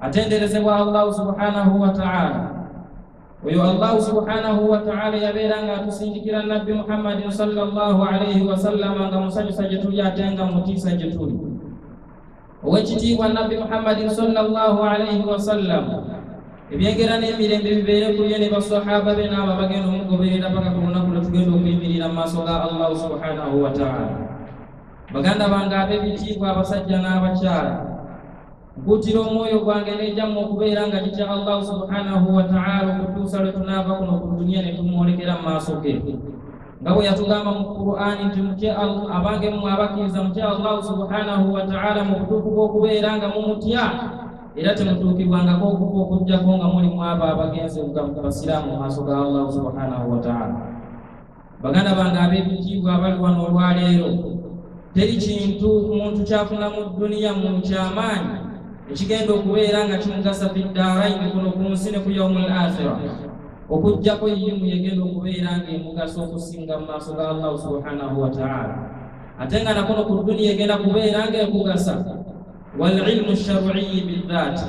atenderezebwa allahu subhanahu wataala oyo allahu subhanahu wataala yabeera nga atusindikira nabbi muhammadin salllahu alaihi wasallama nga musanyusa gye tuli ate nga mutiisa gye tuli owekitiibwa nabbi muhammadin salllahu alaihi wasallam ebyengera n'emirembe bibeere ku ye ne basahaba be n'abo abagenda omugoberera paka ku lunaku lwe tugenda okuyimirira mu maaso ga allahu subhanahu wataala baganda bange ab'ebitiibwa abasajja n'abakyala Mputira omwoyo gwange n'egyammwe okubeera nga gitya Allahu subhanahu wa ta'ala okutuusa lwe tunaava kuno ku duniya ne tumwolekera mu maaso ge nga bwe yatugamba mu Qur'ani nti mutye abange mmwe abakkiriza mutye Allahu subhanahu wa ta'ala mu butuufu bw'okubeera nga mumutya era temutuukibwangako okufa okujjako nga muli mwabo abagenze basiraamu mu maaso ga Allahu subhanahu wa ta'ala baganda bange ab'ebitiibwa abali wano olwaleero teri kintu muntu kyafuna mu dduniya mu kyamaanyi ekigenda okubeera nga kimugasa fiddaaraini kuno ku nsi ne ku yaumu l akhira okuggyako yimu yegenda okubeera ng'emugasa okusinga mu maaso ga allahu subhanahu wataala ate nga nakuno ku dduniya egenda kubeera ng'ekugasa walilmu sharwiyi bidhaati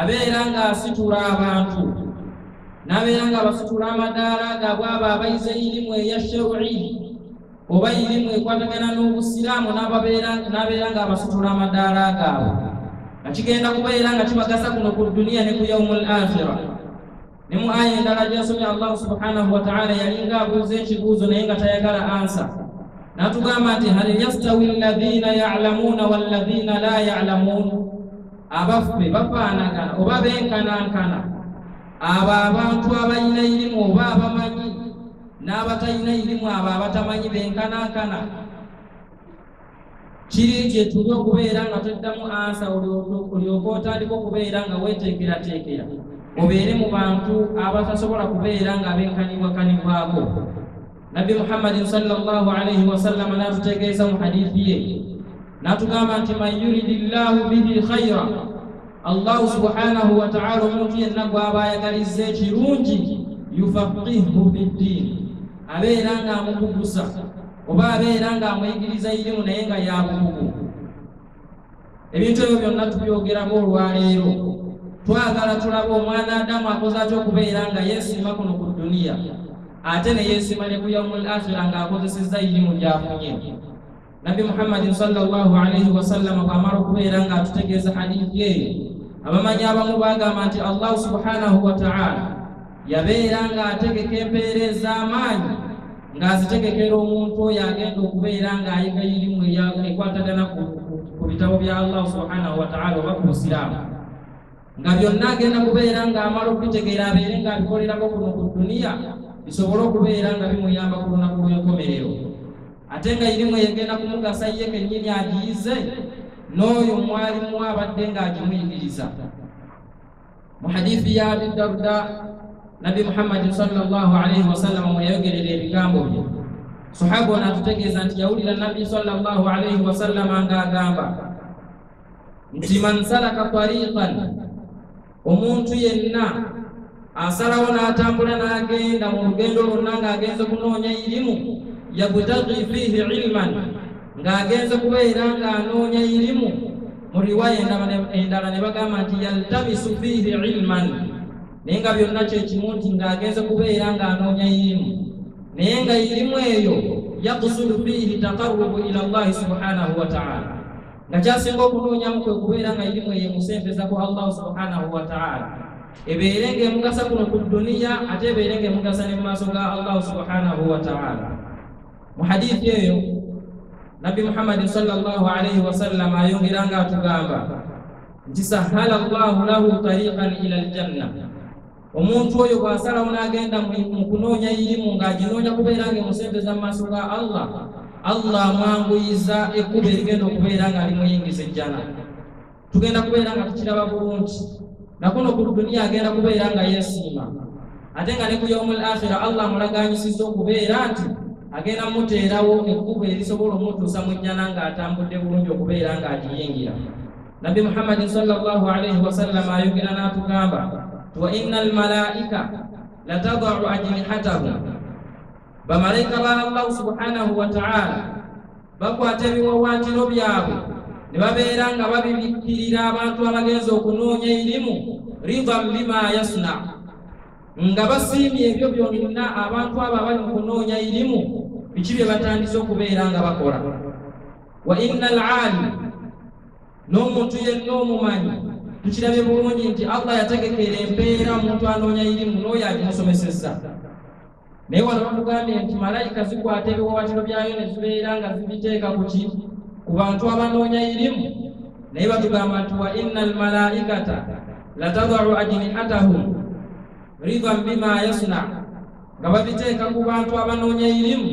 abeera ng'asitula abantu n'abeera ng'abasitula amadaala gaabwe abo abayize irimu eya shewri oba irimu ekwatagana n'obusiraamu n'abeera ng'abasitula amadaala gaabwe nga kigenda kubeera nga kibagasa kuno ku duniya ne ku yaumu l akhira ne mu aya endala gyasomye allahu subhanahu wataala yalinga abuuza ekibuuzo naye nga tayagala ansa natugamba nti hal yastawi alladhina yalamuuna walladhina la yalamuun abaffe bafaanagana oba benkanankana abo abantu abalina irimu oba abamanyi n'abatalina irimu abo abatamanyi benkanankana kiri nti etuuba okubeera nga toddamu ansa olyoka otandika okubeera nga weteekerateekera obeere mu bantu abatasobola kubeera nga abenkanibwakanibwako nabbi muhammadin salllahu alaihi wasallama n'atutegeeza mu hadithi ye n'atugamba nti man yuridi llahu bihi khaira allahu subhanahu wataala omuntu yenna gwaba ayagaliza ekirungi yufaqihu fi ddiini abeera ng'amukugusa oba abeera ng'amuyigiriza irimu naye nga yabukugu ebintu ebyo byonna tubyogerako olwaleero twagala tulabe omwana adamu akoze atya okubeera nga yeesiima kuno ku duniya ate ne yeesiima ne ku yaumul akhira ng'akozesezza irimu gyafunye nabbi muhammadin salllahu alaihi wasallama bwamala okubeera ng'atutegeeza hadithi eyo abamanyi abamu bagamba nti allahu subhanahu wataala yabeera ng'ategeka empeera ez'amaanyi ng'azitegekera omuntu oyo agenda okubeera ng'ayiga irimu ekwatagana ku bitabo bya allah subhanahu wataala oba ku busiraamu nga byonna agenda kubeera ng'amala okubitegeera abeere ng'abikolerako kuno ku duniya bisobole okubeera nga bimuyamba ku lunaku lw'enkomerero ate nga irimu egenda kumugasa ye kennyini agiyize n'oyo mwalimu abadde ng'agimuyigiriza mu hadithi ya abi darda nabbi muhammadi sallallahu alaihi wasallam mwe yayogerera ebigambo bye sahaba ono atutegeeza nti yawulira nabbi sallallahu alaihi wasallama ng'agamba nti man salaka tariqan omuntu yenna asalawo n'atambula n'agenda mu lugendo lwonna ng'agenze kunoonya irimu yabutagi fiihi ilman ng'agenze kubeera ng'anoonya irimu mu riwaya endala ne bagamba nti yaltamisu fiihi ilman naye nga byonna kyekimu nti ng'agenze kubeera ng'anoonya irimu naye nga irimu eyo yakusudu fiihi taqarubu ila llahi subhanahu wataala nga kyasinga okunoonyamu kwe kubeera nga irimu eyo emusembeza ku allahu subhanahu wataala ebeere ng'emugasa kuno ku duniya ate ebeere ng'emugasa ne mu maaso ga allahu subhanahu wataala mu hadithi eyo nabbi muhammadi salllahu alaihi wasallama ayongera nga atugamba nti sahala llahu lahu tariqan ila aljanna omuntu oyo bw'asalawo n'agenda mu kunoonya irimu ng'aginoonya kubeera nga emusente za maaso ga allah allah amwanguyiza ekkuba erigenda okubeera nga limuyingiza ejjana tugenda kubeera nga tukiraba bulungi nakuno ku duniya agenda kubeera nga yesiima ate nga ne ku yaumul akhira allah mulaganyisiza okubeera nti agenda muteerawo ekkubo erisobola omutuusa mu jjana ng'atambudde bulungi okubeera ng'agiyingira nabbi muhammadin salllahu alaihi wasallam ayogera n'atugamba ti wa inna almalaika latadau ajnihatahum bamalaika ba allahu subhanahu wataala bakwata ebiwawaatiro byabwe ne babeera nga babibikkirira abantu abagenza okunoonya erimu ridan bima yasna nga basiimye ebyo byonna abantu abo abali mu kunoonya erimu biki bye batandise okubeera nga bakola wa inna alaali n'omuntu yenna omumanyi tukirabye bulungi nti allah yategekera empeera omuntu anoonya erimu n'oyo agimusomesezza naye wano batugambye nti malayika zikwata ebiwawatiro byayo ne zibeera nga zibiteeka ku ki ku bantu abanoonya irimu naye batugamba nti wa inna almalaikata latadaru ajnihatahum ridan bima yasna nga babiteeka ku bantu abanoonya irimu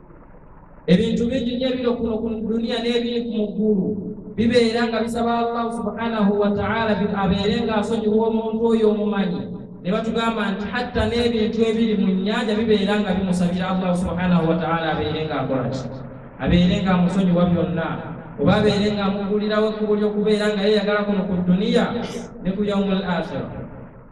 ebintu bingi nyo ebiro kuno ku duniya n'ebiri ku muggulu bibeera nga bisaba allahu subhanahu wataala abeere nga asonyiwa omuntu oyo omumanyi ne batugamba nti hatta n'ebintu ebiri mu nnyanja bibeera nga bimusabira allahu subhanahu wataala abeere nga akola ki abeere nga amusonyiwa byonna oba abeere nga amugulirawo ekkubo ly'okubeera nga yeyagala kuno ku duniya ne ku yaumu al akhira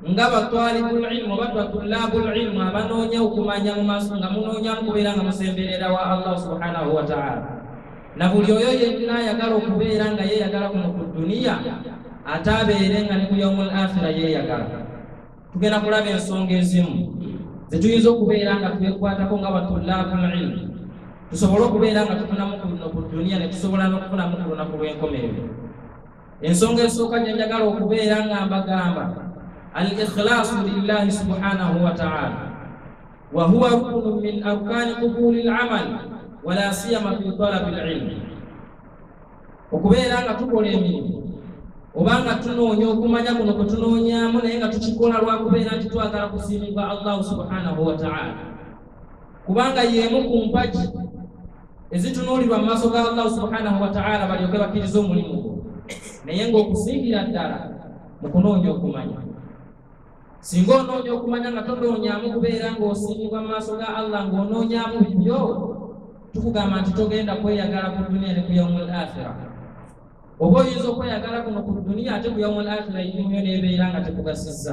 nga batwalibul ilmu oba batulabul ilmu abanoonya okumanya mu maaso nga munoonya mukubeera nga musemberera wa allah subhanahu wataala na buli oyo yenna ayagala okubeera nga yeeyagala kuno ku duniya ate abeere nga ne ku yaumul akhira yeeyagala tugenda kulaba ensonga ezimu zetuyinza okubeera nga twekwatako nga batulabul ilmu tusobole okubeera nga tufunamu kuno ku duniya ne tusobola n'okufunamu ku lunaku lw'enkomerero ensonga esooka gye njagala okubeera nga mbagamba al ikhlaasu lillahi subhanahu wa taala wa huwa rukunu min arkaani qubuli lamal wala siyama fi talabi lilmi okubeera nga tukola emirimu oba nga tunoonya okumanya kuno kwe tunoonyamu naye nga tukikola lwakubeera nti twagala kusiimibwa allahu subhanahu wa taala kubanga yeemu ku mpagi ezitunuulirwa mu maaso ga allahu subhanahu wataala balyoke bakkiriza omulimu gwo naye ng'okusingira ddala mu kunoonya okumanya singa onoonya okumanya nga tonoonyamu kubeera ng'osiimibwa mu maaso ga allah ng'onoonyamu bibyo tukugamba nti togenda kweyagala ku duniya ne ku yaumul akhira oba oyinza okweyagala kuno ku duniya ate ku yaumul akhira yimuyo n'ebeera nga tekugasizza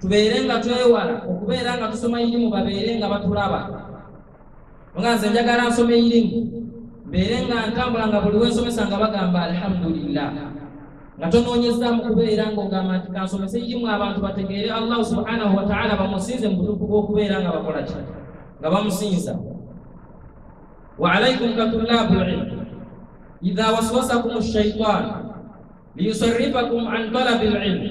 tubeere nga twewala okubeera nga tusoma irimu babeere nga batulaba nga nze njagala nsoma irimu mbeere nga ntambula nga buli wensomesa nga bagamba alhamdulillah nga tonoonyezzaamu kubeera ngaogamba nti kansomese irimu abantu bategeere allahu subhanahu wataala bamusinze mu butuufu bw'okubeera nga bakola ki nga bamusinza wa alaikum katulabu lilmu idha waswasakum shaitan liyusarifakum an talabi lilmu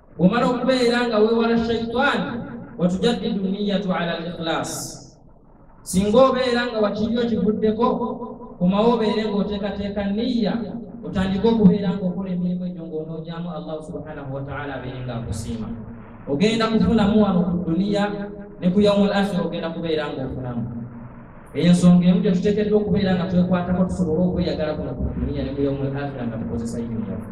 bwomala okubeera nga weewala shaitaani watujaddidu niyatu ala likhilaasi singa obeera nga wakiryo kivuddeko komawo obeere ng'oteekateeka niya otandike okubeera ng'okola emirimu egyo ng'onoogyamu allahu subhanahu wataala abeere nga akusiima ogenda kufunamu wano ku duniya ne ku yaumu l akhira ogenda kubeera ng'ofunamu eyo ensonga emu gye tuteekeddwa okubeera nga twekwatako tusobole okweyagala kuno ku duniya ne ku yaumu l akhira nga tukozesa yuniyafu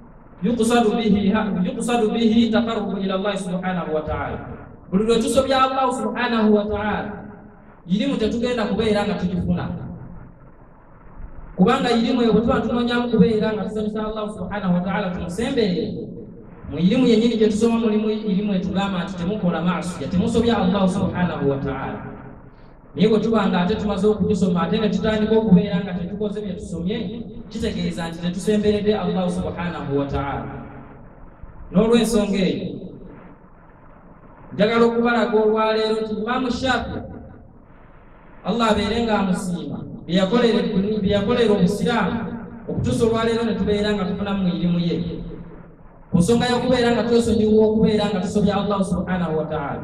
yuqsadu bihi ha- yuqsadu bihi taqarrubu ila llahi subhanahu wa taala buli lwe tusobya allahu subhanahu wa taala irimu tetugenda kubeera nga tugifuna kubanga irimu eyo bwe tuba tunonyamu kubeera nga tusanyusa allahu subhanahu wa taala tumusemberere mu irimu yennyini gye tusoma mulimu irimu etugamba nti temukola maasiya temusobya allahu subhanahu wa taala naye bwe tuba nga ate tumaze okugisoma ate ne tutandika okubeera nga tetukoze bye tusomye kitegeeza nti tetusemberedde allahu subhanahu wataala n'olwensonga eyo njagala okubalaga olwaleero nti imaamu shafi allah abeere nga amusiima byeyakolera obusiraamu okutuusa olwaleero ne tubeera nga tufunamu mu irimu ye ku nsonga y'okubeera nga twesonyiwa okubeera nga tusobya allahu subhanahu wataala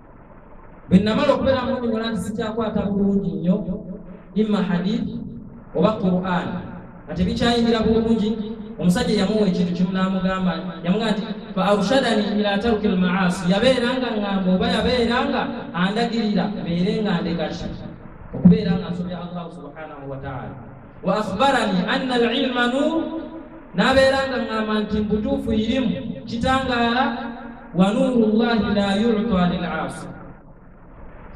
bwe namala okubeera mu nyonyola nti sikyakwata bulungi nnyo imma hadith oba quran nga tebikyayingira bulungi omusajja yamuwa ekintu kimu n'amugamba yamuga nti fa arshadani ila taruki lmaasi yabeera nga ngamba oba yabeera nga andagirira beere nga ndekaki okubeera nga nsobya allahu subhanahu wataala wa akhbarani anna alilma nur nabeera nga ŋŋamba nti mbutuufu irimu kitangaala wa nuuru llahi la yuta lilasi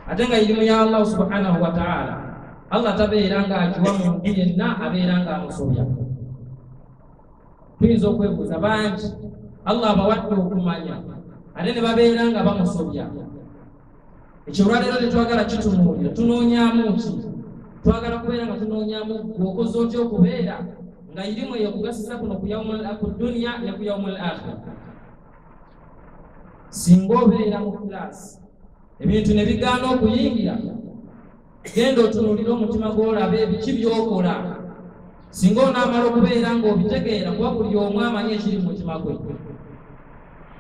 ate nga irimu ya allahu subhanahu wataala allah tabeera nga akiwa muntu yenna abeera nga amusobya tuyinza okwebuuza bangi allah abawadde okumanya ate ne babeera nga bamusobya ekyo olwaleero tetwagala kitunuulira tunoonyamu ki twagala kubeera nga tunoonyamu gwe okoze otya okubeera nga irimu eyo kugasiza kuno ku duniya ne ku yaumul akhira singa obeera mu kulaasi ebintu ne bigaana okuyingira genda otunuulire omutima gw'olabe ebiki by'okola singa onaamala okubeera ng'obitegeera kuba buli omu amanyi ekiri mu mutima gwe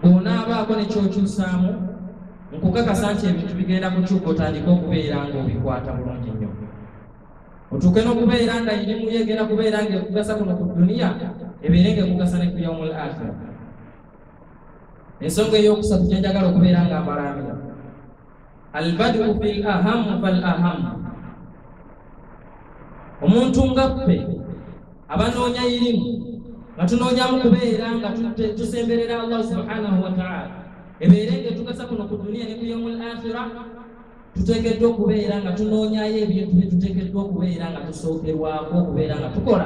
bw'onaabaako ne kyokyusaamu nkukakasa nti ebintu bigenda kukyuka otandike okubeera ng'obikwata bulungi nnyo otuuke n'okubeera nga irimu yegenda kubeera ng'ekugasa kuno ku duniya ebeere ng'ekugasa ne ku yaumul akhira ensonga ey'okusatu gyenjagala okubeera nga mbalaamira albadu fil ahamu fal ahamu omuntu nga ffe abanoonya irimu nga tunoonyamu kubeera nga tusemberera allah subhanahu wataala ebeere nga etugasa kuno ku duniya ne ku yaumul akhira tuteekeddwa okubeera nga tunoonyayo ebintu bye tuteekeddwa okubeera nga tusookerwako okubeera nga tukola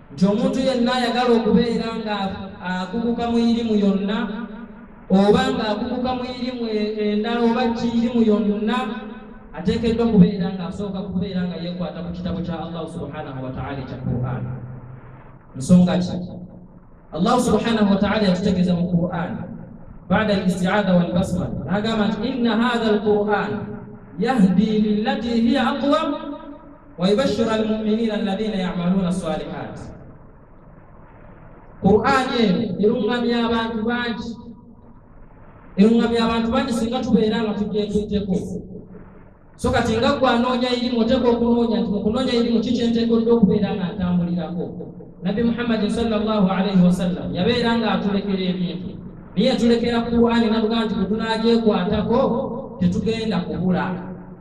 nti omuntu yenna ayagala okubeera nga akuguka mu irimu yonna oba nga akuguka mu irimu e-, endala oba kiirimu yonna ateekeddwa kubeera nga asooka kubeera nga yekwata ku kitabo kya allahu subhanahu wataala ekya quran nsonga ki allahu subhanahu wataala yatutegeeza mu quran bada alistiada walbasmal nagamba nti inna hatha alquran yahdi lilati hiya aqwam wayubashira almuminina alladhina yamaluna salihat qurani eno erungamya abantu bangi erungamya abantu bangi singa tubeera nga tujetuiteko so kati nga gwe anoonya irimu oteeka okunoonya nti mukunoonya irimu kikyenteekedde okubeera nga ntambulirako nabbi muhammadi salllahu alaihi wasallam yabeera nga atulekera ebintu naye yatulekera qurani nabuga nti bwetunagyekwatako tetugenda kubula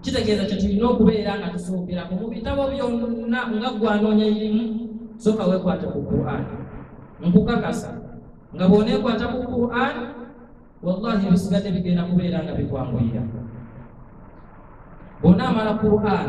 kitegeeza kyo tulina okubeera nga tusookera mu bitabo byonna nga gwanoonya irimu soka wekwata ku quran nkukakasa nga bwonekwata ku quran wallahi ebisigadde bigenda kubeera nga bikwanguyira bwonaamala quran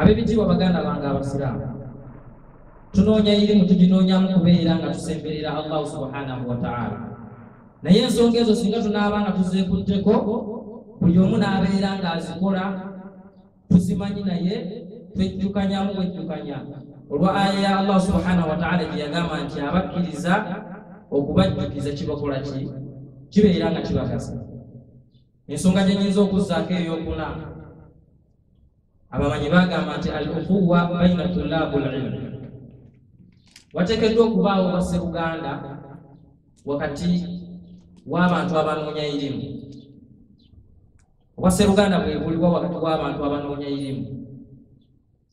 ab'ebitiibwa baganda bange abasiraamu tunoonya irimu tuginoonyamu kubeera nga tusemberera allahu subhanahu wataala naye ensonga ezo singa tunaaba nga tuzeekutteko buli omu n'abeera ng'azikola tuzimanyi naye twejjukanyamu bwejjukanya olwa aya ya allah subhanahu wataala gye yagamba nti abakkiriza okubajjukiza kibakola ki kibeera nga kibagasa ensonga gye nyinza okuzzaako eyokuna abamanyi bagamba nti al ukuwa baina tulabu lilmi wateekeddwa okubaawo basseruganda wakati w'abantu abanoonya irimu obwasseruganda bwebuliwa wakati w'abantu abanoonya irimu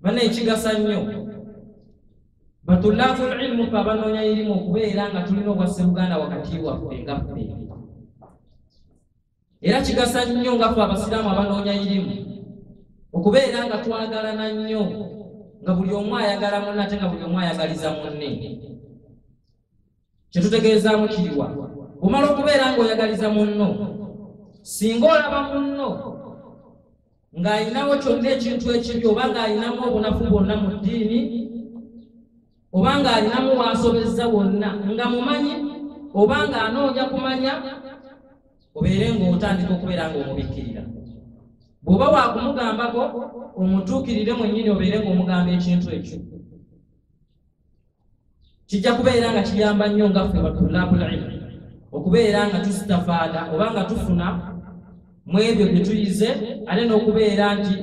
bana ekigasa nnyo batulafu lilmu fe abanoonya irimu okubeera nga tulina obwasseruganda wakati waffe nga ffe era kigasa nnyo nga fe abasiraamu abanoonya irimu okubeera nga twagalana nnyo nga buli omu ayagala munne ate nga buli omu ayagaliza munne kyetutegeezaamu kiriwa omala okubeera ng'oyagaliza munno singa olaba munno ng'alinawo kyonna ekintu ekibi oba ng'alinamu obunafu bwonna mu ddiini oba ng'alinamu waasobezza wonna nga mumanyi oba ng'anoonya kumanya obeere ng'otandika okubeera ng'omubikkirira bw'oba waakumugambako omutuukirire mwennyini obeere ng'omugamba ekintu ekyo kijja kubeera nga kiyamba nnyo nga ffe batulabulilmu okubeera nga tusitafaada oba nga tufuna mu ebyo bye tuyize ate n'okubeera nti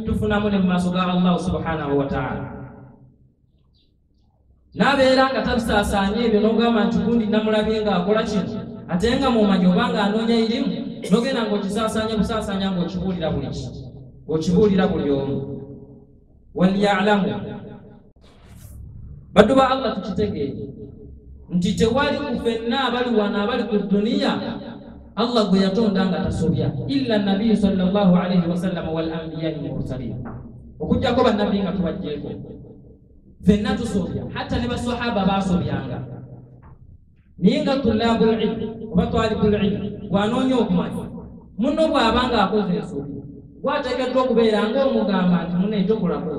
tufunamu ne mu maaso ga allahu subhanahu wataala n'abeera nga tabisaasaanya ebyo n'ogamba nti gundi namulabye nga akola kino ate nga mumanyi oba nga anoonya irimu nogenda ng'okisaasaanya busaasaanya ng'okibuulira buli ki ng'okibuulira buli omu waliyalamu baddu ba allah tukitegeere nti tewali ku fenna abali wano abali ku duniya allah gwe yatonda nga tasobya illa nabiyu salllah alaihi wasallama walambiyai mursalin okujjako bannabbi nga tubajjeeko fenna tusobya hatta ne basahaba basobyanga naye nga tulabu lilmu oba twalibu lilmu bwanoonya okumanya muno bw'aba nga akoze ensobi gwateekeddwa okubeera ng'omugamba nti muno ekyokulako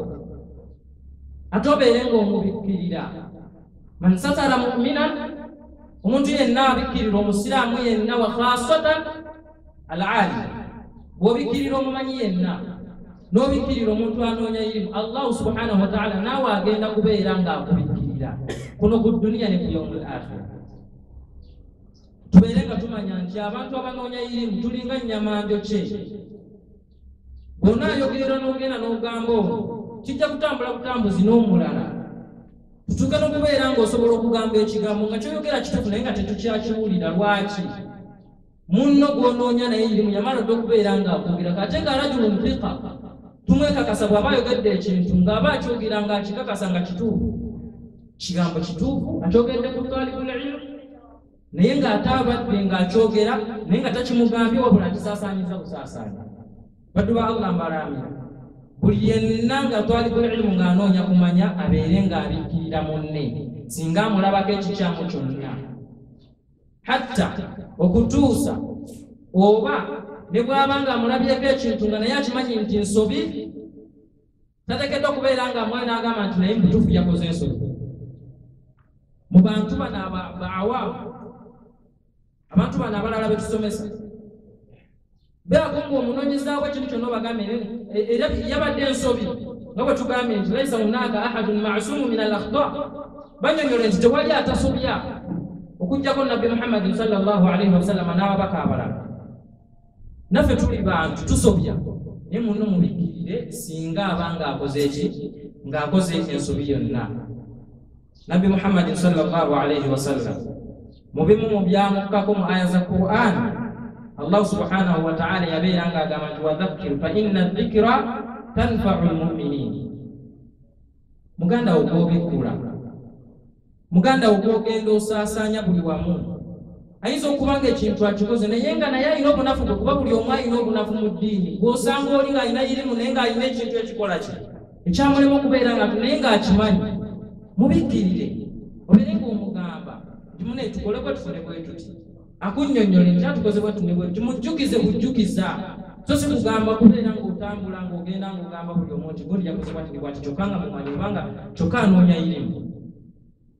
ate obeere ng'omubikkirira man satara muminan omuntu yenna abikkirira omusiraamu yenna wa khasatan alaali bw'obikkirira omumanyi yenna n'obikkirira omuntu anoonya irimu allahu subhanahu wataala naawe agenda kubeera ng'akubikkirira kuno ku duniya ne ku yaumul akhira tubeere nga tumanya nti abantu abanoonya irimu tulinga nnyama njokye bwona ayogerera n'ogenda n'ogamba ono kijja kutambula butambuzi n'omulala tutuuke n'okubeera ng'osobola okugamba ekigambo nga kyoyogera kituufu naye nga tetukyakiwulira lwaki munno gw'onoonya naye irimu yamala dda okubeera ng'akwogera kate nga rajulu nfika tumwekakasa bw'aba ayogedde ekintu ng'aba akyogera ng'akikakasa nga kituufu kigambo kituufu akyogedde ku twalibulilimu naye ng'ate abadde ng'akyogera naye nga takimugambye wabula akisaasaanyiza busaasaanya baddu ba allah mbalaamira buli yenna nga twalibulilimu ng'anoonya kumanya abeere ng'abikkirira munne singa amulabako ekikyamu kyonna hatta okutuusa oba ne bwaba nga amulabyeko ekintu nga naye akimanyi nti nsobi tatekeddwa okubeera nga mwana agamba nti naye mutuufu yakoze ensobi mu bantu bano abaawa abantu bano abalala betusomesa beago nga omunonyezaako ekintu kyonna obagambe era yabadde ensobi nga bwe tugambye nti laisa hunaka ahadun masumu min al akhta banyonyole nti tewali atasobya okujjako nabbi muhammadin salllahu alaihi wasallama n'ababaka abalala naffe tuli bantu tusobya naye muno mubikirire singa aba ng'akoze eki ng'akoze ensobi yonna nabbi muhammadin salllahu alaihi wasallam mu bimu mu byamukkako mu aya za quran allahu subhanahu wataala yabeera nga agamba nti wadhakkir fa inna dhikira tanfau lmuminin muganda wo gwobikkula muganda wo gwogenda osaasaanya buli wamu ayinza okuba nga ekintu akikoze naye nga naye alina obunafu bwe kuba buli omu alina obunafu mu ddiini gwosanga oli ng'alina yirimu naye ng'alina ekintu ekikola kye ekyamulema okubeera nga naye ng'akimanyi mubikkirire obeere ng'omugamba nti mune tukole bwe tufune bwe tuti akunnyonnyole nti atukoze bwe tune bwe tumujjukize bujjukiza so si kugamba kubeera ng'otambula ng'ogenda ng'ogamba buli omu nti gundi yakoze bwati ne bwati kyokka nga mumanyi kubanga kyokka anoonya irimu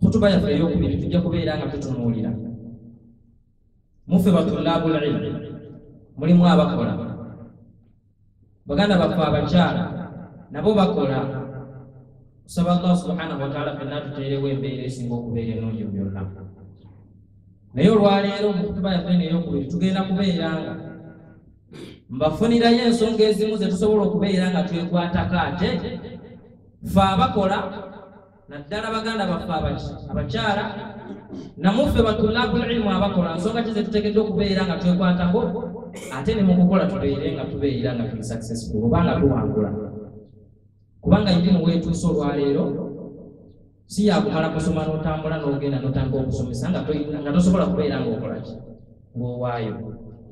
khutuba yaffe eyokubiri tujja kubeera nga tutunuulira muffe batulabu lilmu mulimu abakola baganda baffe abakyala nabo bakola kusaba allah subhanahu wataala fenna tuteerewo embeera esinga okubeera enungi byonna naye olwaleero mu kutuba yaffe neyo okubiri tugenda kubeera nga mbafunirayo ensonga ezimu ze tusobola okubeera nga twekwatako ate fe abakola naddala baganda baffe abakyala namuffe batulabulilmu abakola nsonga ki zetutegedde okubeera nga twekwatako ate ne mu kukola tubeere nga tubeera nga tuli successful oba nga tuwangula kubanga yirimu weetuuse olwaleero si yakumala kusoma n'otambula n'ogenda n'otandika okusomesa nga tosobola kubeera ng'okolaki ng'owaayo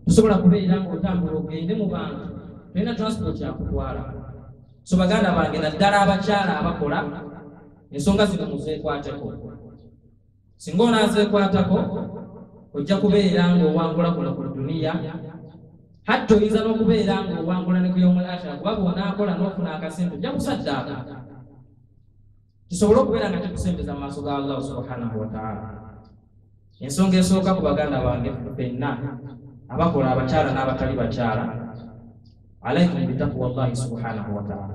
tosobola kubeera ng'otambula ogende mu bantu tolina transport yakutwala so baganda bange naddala abakyala abakola ensonga zino muzeekwateko singa onaazeekwatako ojja kubeera ng'owangula kuno ku duniya hatta oyinza n'okubeera ng'owangula ne kuyomu akhira kuba bw'onaakola n'ofuna akasintu ojja kusaddaaka kisobole okubeera nga kikusembeza mu maaso ga allahu subhanahu wataala ensonga esooka ku baganda bange fenna abakola abakyala n'abatali bakyala alaikum bitakuwa llahi subhanahu wataala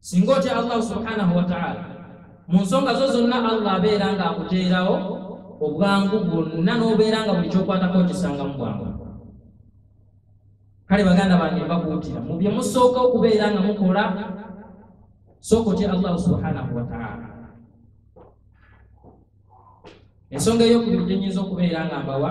singa otya allah subhanahu wataala mu nsonga zo zonna allah abeera nga akuteerawo obwangu bwonna n'obeera nga buli kyokwatako okisanga mu bwangu kale baganda bange mbakuutira mu bye musooka okubeera nga mukola sooka otya allahu subhanahu wataala ensonga eyokubiri gyenyinza okubeera nga mbawa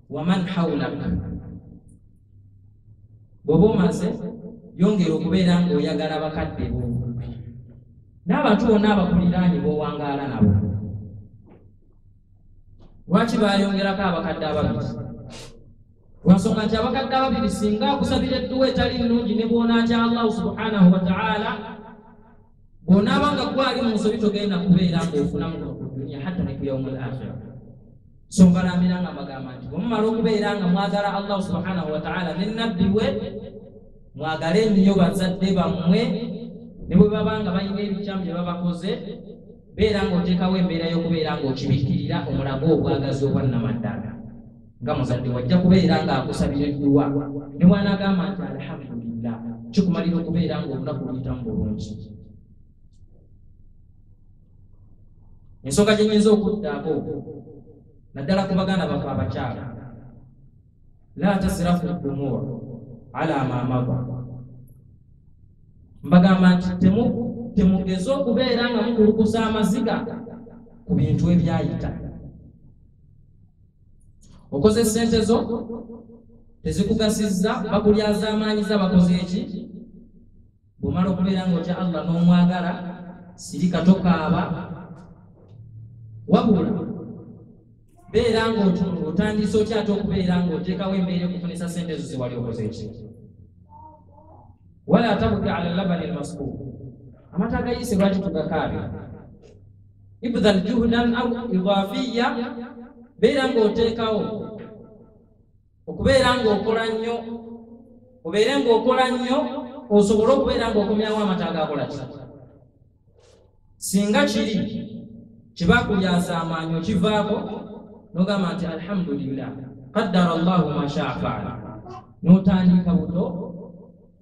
waman haulak bwoba omaze yongera okubeera ngaoyagala bakadde bo n'abantu bonna abakuliraanyi bowangaala nabo lwaki bayongerako abakadde ababiri lwansonga nti abakadde ababiri singa akusabira edduwa etali nnungi ne bwonaatya allahu subhanahu wataala bw'onaaba nga gwali mu nsobi togenda kubeera ng'ofunamu kuno ku duniya hatta ne ku yaumu lakhira so mbalambira nga mbagamba nti bwemumala okubeera nga mwagala allahu subhanahu wataala ne nabbi we mwagale nnyo bazadde bammwe ne bwe baba nga balina ebikyamu bye babakoze beera ng'oteekawo embeera y'okubeera ng'okibikkirira omulago obwagazi obwannamaddala nga muzadde wajja kubeera ng'akusabira edduwa ne bwanaagamba nti alhamdulillah kikumalira okubeera ng'olunaku luyitamu bulungi ensonga gye nyinza okuddaako naddala ku baganda bafe abakyala la tasirafu dumur ala mamaba mbagamba nti temugeze okubeera nga mukulukusa amaziga ku bintu ebyayita okoze sente zo tezikugasizza bakulyazaamaanyiza bakoze eki bwomala okubeera nga otya allah n'omwagala sirika tokaaba wabula beera nga otandise otya ate okubeera nga oteekawo embeera ekufunisa sente ezo zewali okoze eki wala tabuki ala labani lmaskuuku amata agayise lwaki tugakaabe ibdhan juhdan au idafiya beera ng'oteekawo okubeera ng'okola nnyo obeere ng'okola nnyo osobole okubeera ng'okomyawo amata agakola ki singa kiri kibakulyasa amaanyi okivaako nogamba nti alhamdulillah qaddara llahu mashaa faala notandika buto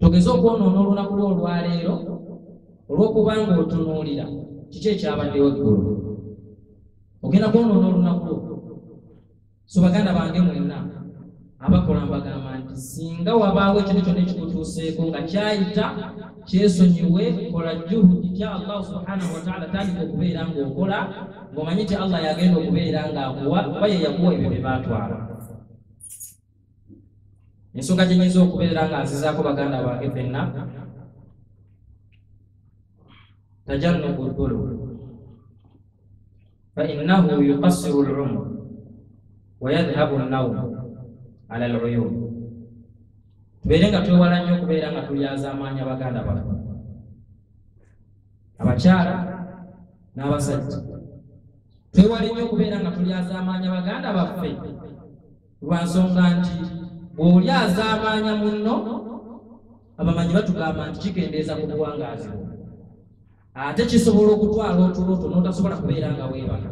togeze okwonoona olunaku lwo olwaleero olwokuba nga otunuulira kiki ekyabaddewo eggulu ogenda kwonoona olunaku lwo so baganda bange mwenna abakola mbagamba nti singa wabaawo ekintu kyonna ekikutuuseeko nga kyayita kyesonyiwe kola juhudi tya allahu subhanahu wataala tandika okubeera ngaokola ng'omanyi nti allah yagenda okubeera ng'akuwa oba yeyakuwa ebyo bye baatwala ensonga gye nyinza okubeera nga nzizaako baganda bange fenna tajannubu ddulu fainnahu yukassiru lumur wayadhhabu nnawmu ala luyumu tubeere nga twewala nnyo okubeera nga tulyazaamaanya baganda baffe abakyala n'abasajja twewale nnyo okubeera nga tulyazaamaanya baganda baffe lwa nsonga nti bw'oli azaamaanya munno abamanyi batugamba nti kikendeeza ku buwangaazi bwo ate kisobola okutwala otuloto n'otasobola kubeera nga weebaka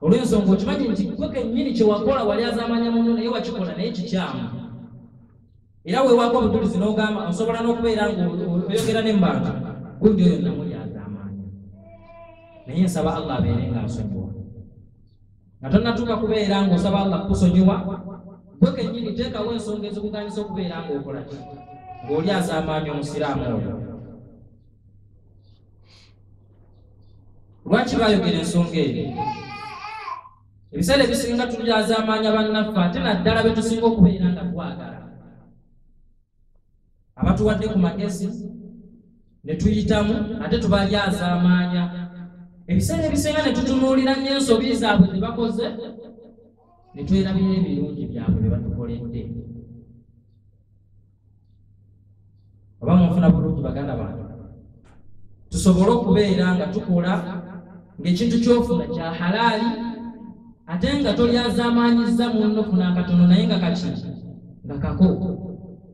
olw'ensonga okimanyi nti gwe kennyini kye wakola wali azaamaanya munno naye wakikola naye kikyamu era weewaako obujulizi n'ogamba osobola n'okubeera ng'oyogera ne mbantu gundi oyo namuli azaamaanya naye nsaba allah abeere nga nsonyiwa nga tonnatuuka kubeera ng'osaba allah kukusonyiwa gwe kennyini teekawo ensonga ezikuganisa okubeera ng'okola ki ng'oli azaamaanya omusiraamu oyo lwaki baayogera ensonga eyo ebiseera ebisinga tuli azaamaanya bannaffe ate naddala be tusinga okubeera nga twagala abatuwadde ku magezi ne tuyitamu ate tubalyazaamaanya ebiseera ebisinga ne tutunuulira nnyo ensobi zaabwe ze bakoze ne twerabira ebirungi byabwe bye batukoledde oba munfuna bulungi baganda bange tusobole okubeera nga tukola ng'ekintu kyofuna kya halaali ate nga tolyazaamaanyizza munno funa akatono naye nga kaki nga kako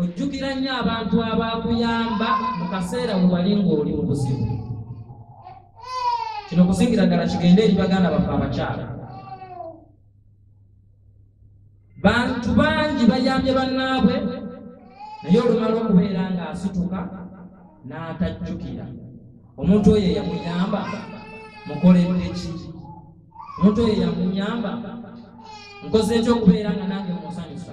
ojjukira nnyo abantu abaakuyamba mu kaseera bwe wali ng'oli mu buzibu kino kusingira ddala kigende eri baganda baffe abakyala bantu bangi bayambye bannaabwe naye olumala okubeera ng'asituka n'atajjukira omuntu oyo eyamuyamba mukoledde ki omuntu oyo eyamunyamba nkoze ekyokubeera nga nange munsanyusa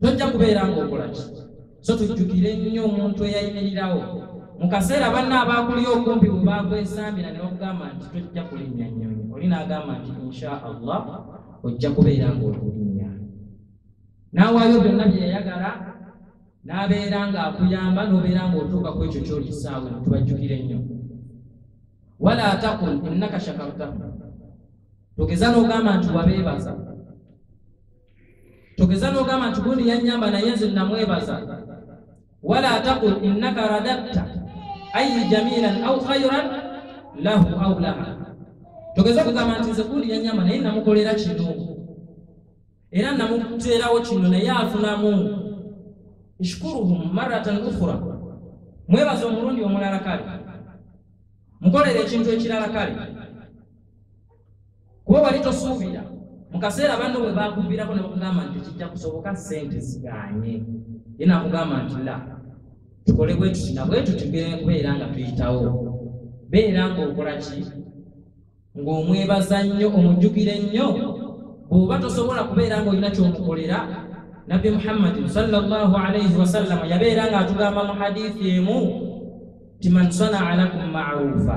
tojja kubeera ng'okola ki so tujjukire nnyo omuntu eyayimirirawo mu kaseera banna abaakuli okumpi bwe baakwesambira ne bakugamba nti tojja kulinnya nnyonyi oli n'agamba nti insha allah ojja kubeera ng'okulinnya n'awaayo byonna bye yayagala n'abeera ng'akuyamba n'obeera ng'otuuka ku ekyo kyoli ssaawa eno tubajjukire nnyo wala takun innaka shakartahu togeza n'ogamba nti wabeebaza togeza nogamba nti gundi yanyamba naye nze namwebaza wala taqul innaka radatta ayi jamilan au khairan lahu au laha togeza kugamba nti nze gundi yanyamba naye namukolera kino era namuteerawo kino naye afunamu ishkuruhum maratan ukhra mwebaza omulundi omulala kale mukolera ekintu ekirala kale kuba wali tosuubira mu kaseera banno bwe bakuviirako ne bakugamba nti kijja kusoboka ssente ziganye ye nakugamba nti la tukole bwe tuti na bwe tuti kubeera nga tuyitawo beera ng'okola ki ng'omwebaza nnyo omujjukire nnyo bw'oba tosobola kubeera ng'olina kyomukolera nabbi muhammadin salllahu alaihi wasallama yabeera ng'atugamba mu hadithi emu ti man sanaa lakum maruufa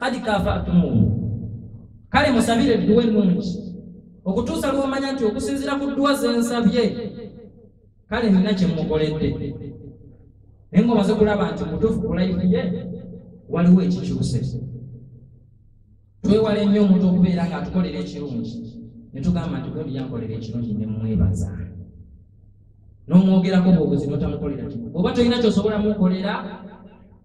kadi kafaatumuhu kale musabire edduwa ennungi okutuusa lwomanya nti okusinzira ku dduwa zensabye kale nina kyemukoledde naye nga omaze kulaba nti mutuufu kulayifiye waliwo ekikyuse twewale nnyo omuntu okubeera nga atukolera ekirungi netugamba nti gundi yankolera ekirungi nemwebaza n'omwogerako bwobuzi notamukolera kino oba tolina kyosobola mukolera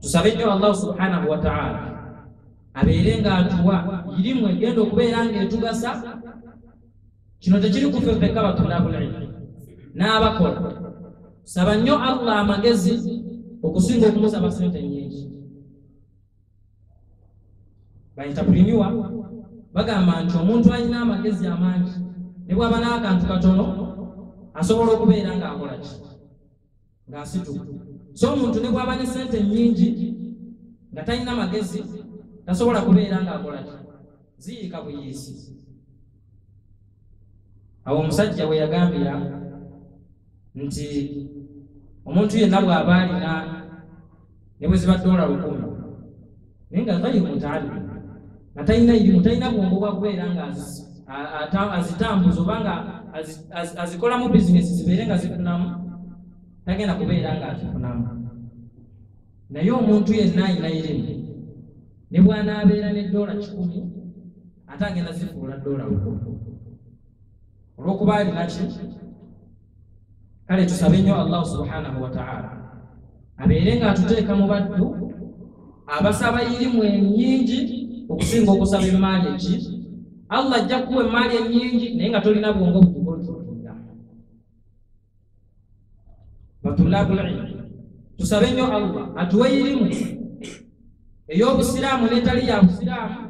tusabe nnyo allahu subhanahu wataala abeere nga atuwa irimu egenda okubeera nga etugasa kino tekiri kufe fekka batulabulaimu n'abakola saba nnyo allah amagezi okusinga okumusaba sente nyingi baintapriniwa bagamba nti omuntu alina amagezi amangi ne bwaba n'akantu katono asobola okubeera ng'akola ki ng'asituka so omuntu ne bw'aba ne sente nnyingi nga talina magezi tasobola kubeera ng'akola ki ziyiika buyiisi awo omusajja we yagambira nti omuntu yenna bw'aba alina ne bwe ziba doola lukumi naye nga ghairi mutaallim nga talina irimu talina bwongo bwa kubeera nga azitambuza oba nga azikolamu bizinesi zibeere nga zifunamu tagenda kubeera nga azifunamu naye omuntu yenna alina irimu ne bwanaabeera ne doola kikumi ate agenda zifuula doola lukumi olwokuba alinaki kale tusabe nnyo allahu subhanahu wataala abeere ng'atuteeka mu baddu abasaba irimu enyingi okusinga okusaba emaali eki allah ajja kuwa emaali enyingi naye nga tolina bwongo bukugontulira batulabulilmu tusabe nnyo allah atuwe irimu ey'obusiraamu n'etali ya busiraamu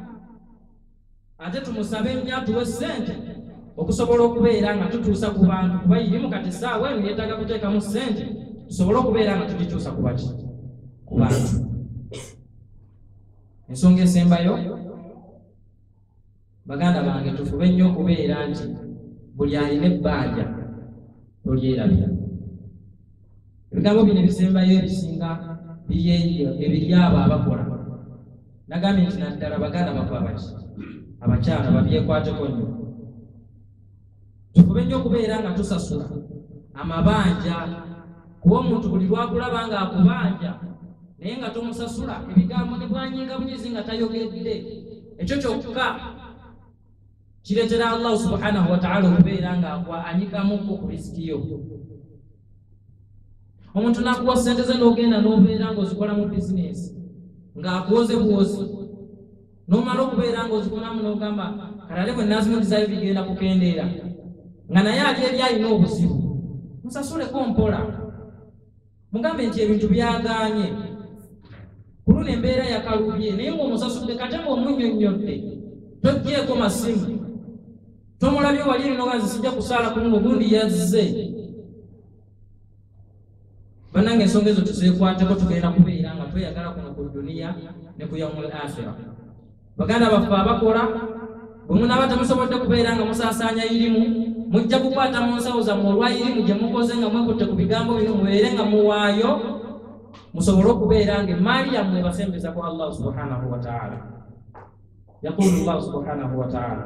ate tumusabe nnyo atuwe ssente okusobola okubeera nga tutuusa ku bantu kuba irimu kati essaawa eno yeetaaga kuteekamu ssente tusobole okubeera nga tugituusa ku baki ku bantu ensonga esembayo baganda bange tufube nnyo okubeera nti buli alina ebbanja tolyerabira ebigambo bino ebisembayo ebisinga biyeyo ebiri abo abakola nagambye nti naddala baganda bakwabaki abakyala babyekwateko nnyo tufube nnyo okubeera nga tusasula amabanja kuba omuntu buli lwakulaba nga akubanja naye nga tomusasula ebigambo ne bwanyinga bunyizi nga tayogedde ekyo kyokka kireetera allahu subhanahu wataala okubeera nga akwa anyikamukko ku risiki yo omuntu nakuwa sente ze nogenda nobeera nga ozikola mu bizinesi ngaakuwoze bwozi nomala okubeera nga ozikolamu nogamba kalale bwe nazimudizayo bigenda kukendeera nga naye ali eri alina obuzibu musasuleko mpola mugambe nti ebintu byagaanye ku luno embeera yakalubye naye ngaomusasudde kate ngaomunyonnyodde tojjeeko masimu tomulabye wali erinoga nze sijja kusaala ku luno gundi yazze banange ensonga ezo tuzeekwateko tugenda kubeera nga tweyagala kuno ku duniya ne ku yaumul akhira baganda baffe abakola bwe munaaba temusobodde kubeera nga musaasaanya irimu mujja kukwata mu nsawo zammwe olwa irimu gye mukoze nga mwekutte ku bigambo bino mubeere nga muwaayo musobole okubeera nga emaali yammwe ebasembeza ku allahu subhanahu wataala yaqulu llahu subhanahu wataala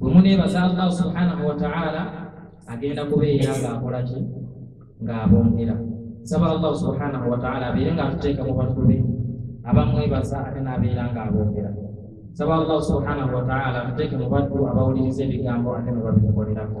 bwe muneebaza allah subhanahu wataala agenda kubeera ng'akola ki ng'abongera nsaba allah subhanahu wataala abeere ng'atuteeka mu bantu be abamwebaza ate n'abeera ng'abongera nsaba allah subhanahu wataala atuteeke mu bantu abawuliriza ebigambo ate ne babikolerako